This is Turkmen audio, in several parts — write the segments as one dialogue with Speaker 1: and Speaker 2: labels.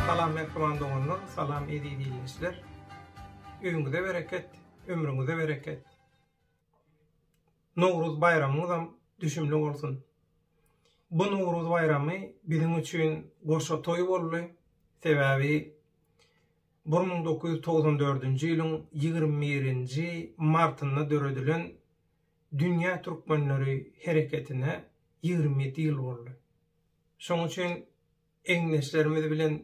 Speaker 1: Salam mähriban doganlar, salam eziz ildeşler! Öýüňize bereket, ömrüňize bereket! Nowruz baýramyňyzam düşümli bolsun! Bu Nowruz baýramy biziň üçin goşa toý boldy, sebäbi bir müň dokuz ýüz togsan dördünji ýylyň ýigrimi birinji martynda döredilen Dünýä Türkmenleri hereketine ýigrimi ýedi ýyl boldy. Şonuň üçin Egindeşlerimiz bilen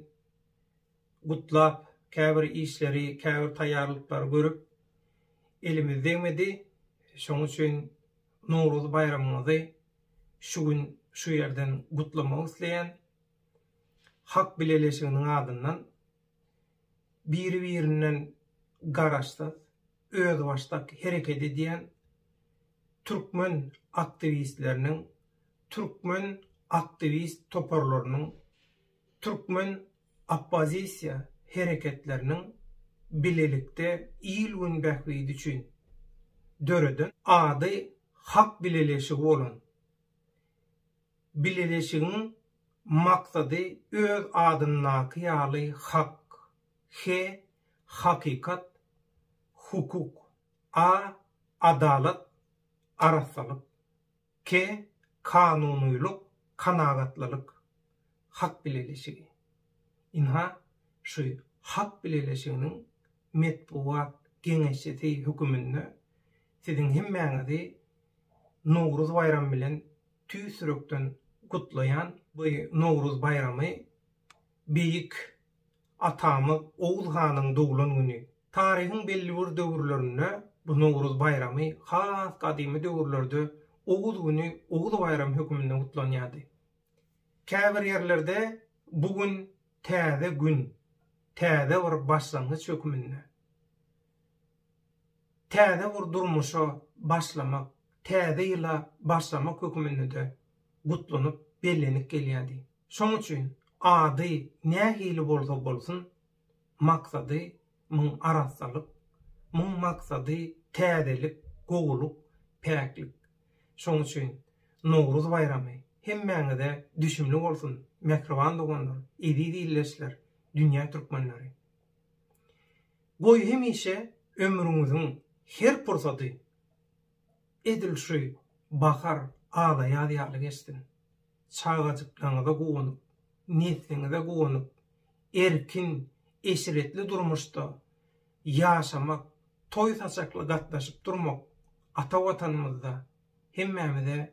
Speaker 1: gutlap, käbir işleri, käbir taýýarlyklary görüp, elimiz degmedi. Şonuň üçin Nowruz baýramyňyzy şu gün şu ýerden gutlamak isleýän. Halk bileleşiginiň adyndan biri-birinden garaşsyz, özbaşdak hereket edýän türkmen aktiwistleriniň, türkmen aktiwist toparlarynyň, türkmen oppozisiýa hereketleriniň bilelikde il-gün bähbidi üçin döreden ady Hak bileleşigi bolan bileleşigiň maksady öz adyndaky ýaly hak, he, hakykat, hukuk. A. Adalat, arassalyk. K. Kanunylyk, kanagatlylyk. Hak bileleşigi. Ynha, şu Hak bileleşiginiň metbugat geňeşçisi höküminde siziň hemmäňizi Nowruz baýramy bilen tüýs ýürekden gutlaýan. Bu Nowruz baýramy beýik atamyz Oguz hanyň doglan güni Taryhyň belli bir döwürlerinde bu Nowruz baýramy has gadymy döwürlerde Oguz güni Oguz baýramy höküminde gutlanýardy. Käbir ýerlerde bu gün täze gün, täze bir başlangyç höküminde, täze bir durmuşa başlamak, täze ýyla başlamak höküminde-de gutlanyp bellenip gelýärdi. Şonuň üçin ady nähili bolsa bolsun, maksady muň arassalyk, muň maksady täzelik, gowulyk, päklik. Şoň üçin Nowruz baýramy hemmäňize düşümli bolsun, mähriban doganlar, eziz ildeşler, dünýä türkmenleri! Goý hemişe ömrüňiziň her pursady. Edil şu bahar ala-ýaz ýaly geçsin. Çagajyklaryňyza guwanyp, nesliňize guwanyp, erkin, eşretli durmuşda ýaşamak, toý-saçakly gatnaşyp durmak ata Watanymyzda hemmämize